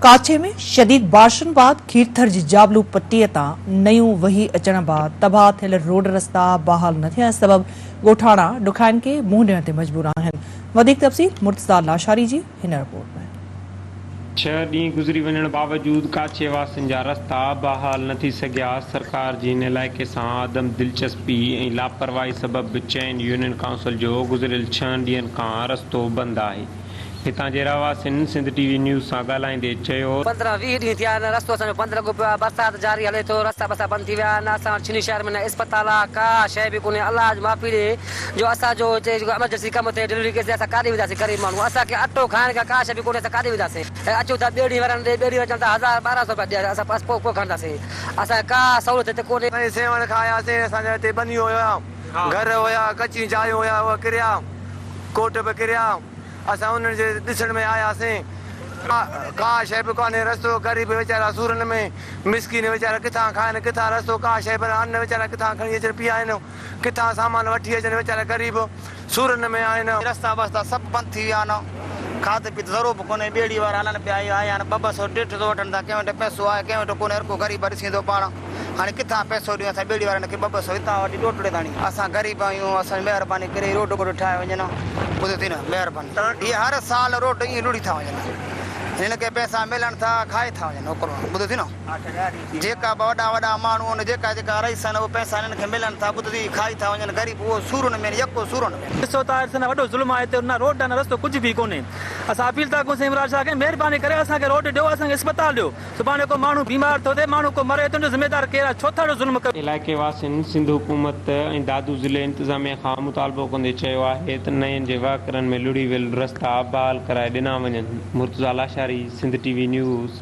ڪاڇي ۾ شديد بارشن بعد کيرٿر جي جابلو پٽي تان نيون وهي اچڻ بعد تباهه ٿيل روڊ رستا بحال نه ٿيڻ سبب ڳوٺاڻا ڏکائين کي منهن ڏيڻ تي مجبور آهن وڌيڪ تفصيل مرتضيٰ لاشاري جي هن رپورٽ ۾. ڇهه ڏينهن گذري وڃڻ باوجود ڪاڇي واسين جا رستا بحال نه ٿي سگهيا، سرڪار جي هن علائقي سان عدم دلچسپي ۽ لاپرواهي سبب چئن يونين ڪائونسل جو گذريل ڇهن ڏينهن کان رستو بند آهي. هتان جي رهواسين سنڌ ٽي وي نيوز سان ڳالهائيندي چيو. پندرهن ويهه ڏينهن ٿيا آهن رستو اسان جو بند لڳو پيو آهي برسات جاري هلي ٿو رستا بستا بند ٿي ويا آهن اسان وٽ ڇني شهر ۾ نه اسپتال آهي ڪا شيء به ڪونهي الله اڄ معافي ڏي جو اسان جو هتي جيڪو ايمرجنسي ڪم ٿئي ڊليوري ڪيس ٿئي اسان ڪاڏي وينداسين غريب ماڻهو اسان کي اٽو کائڻ کان ڪا شيء به ڪونهي اسان ڪاڏي وينداسين اچو ٿا ٻيڙي وارن ڏي ٻيڙي وارا چون ٿا هزار ٻارهن سئو روپيا ڏي اسان بس پوء ڪو کڻنداسين اسان کي ڪا سهولت هتي ڪونهي. ۽ سيوهڻ کان آياسين اسان جا هتي ٻنيون هيا گهر هيا ڪچيون چايون هيا اهي ڪريا. ڪوٽ به ڪريا، اسان انهن جي ڏسڻ ۾ آياسين. ڪا شيء به ڪانهي رستو، غريب ويچارا سورن ۾، مسڪين ويچارا ڪٿان کائن، ڪٿان رستو، ڪا شيء بنهه ان ويچارا ڪٿان کڻي اچن پيائن، ڪٿان سامان وٺي اچن، ويچارا غريب سورن ۾ آهن. رستا بستا سڀ بند ٿي ويا آهن، کاڌ پيت ذرو به ڪونهي، ٻيڙي وارا هلن پيا، آيا آهن ٻه ٻه سئو ڏيڍ سئو وٺن ٿا، ڪنهن وٽ پئسو آهي، ڪنهن وٽ ڪونهي، هر ڪو غريب ڏسين ٿو پاڻ. هاڻي ڪٿان پئسو ڏيون اسان ٻيڙي وارن کي ٻه ٻه سئو هتان وٺي ڏوٽڙي تاڻي. اسان غريب آهيون اسان جي مهرباني ڪري روڊ ٻوڊ ٺاهي وڃن ها ٻڌو ٿي نه مهرباني هي هر سال روڊ ائين لڙهي ٿا وڃن هنن کي پئسا ملن ٿا کائي ٿا وڃن هو ڪروڙ ٻڌو ٿي نه جيڪا به وڏا وڏا ماڻهو آهن جيڪا جيڪا رئيس آهن اهي پئسا هنن کي ملن ٿا ٻڌو ٿي کائي ٿا وڃن غريب اهو سورن ۾ يڪو سورن ۾. ڏسو ته آخر سندن وڏو ظلم آهي هتي نه روڊ نه رستو ڪجهه به ڪونهي اسان اپيل ٿا ڪيون سائين عمران شاهه کي مهرباني ڪري اسان کي روڊ ڏيو اسان کي اسپتال ڏيو سڀاڻي ڪو ماڻهو بيمار ٿو ٿئي، ماڻهو ڪو مري ٿو، ان جو ذميوار ڪير آهي؟ ڇو ٿا اهڙو ظلم ڪيو؟ علائقي واسين سنڌ حڪومت ۽ دادو ضلعي انتظاميه کان مطالبو ڪندي چيو آهي ته نئين جي وهڪرن ۾ لڙهي ويل رستا بحال ڪرائي ڏنا وڃن Murtaza Lashari Sindh T V news.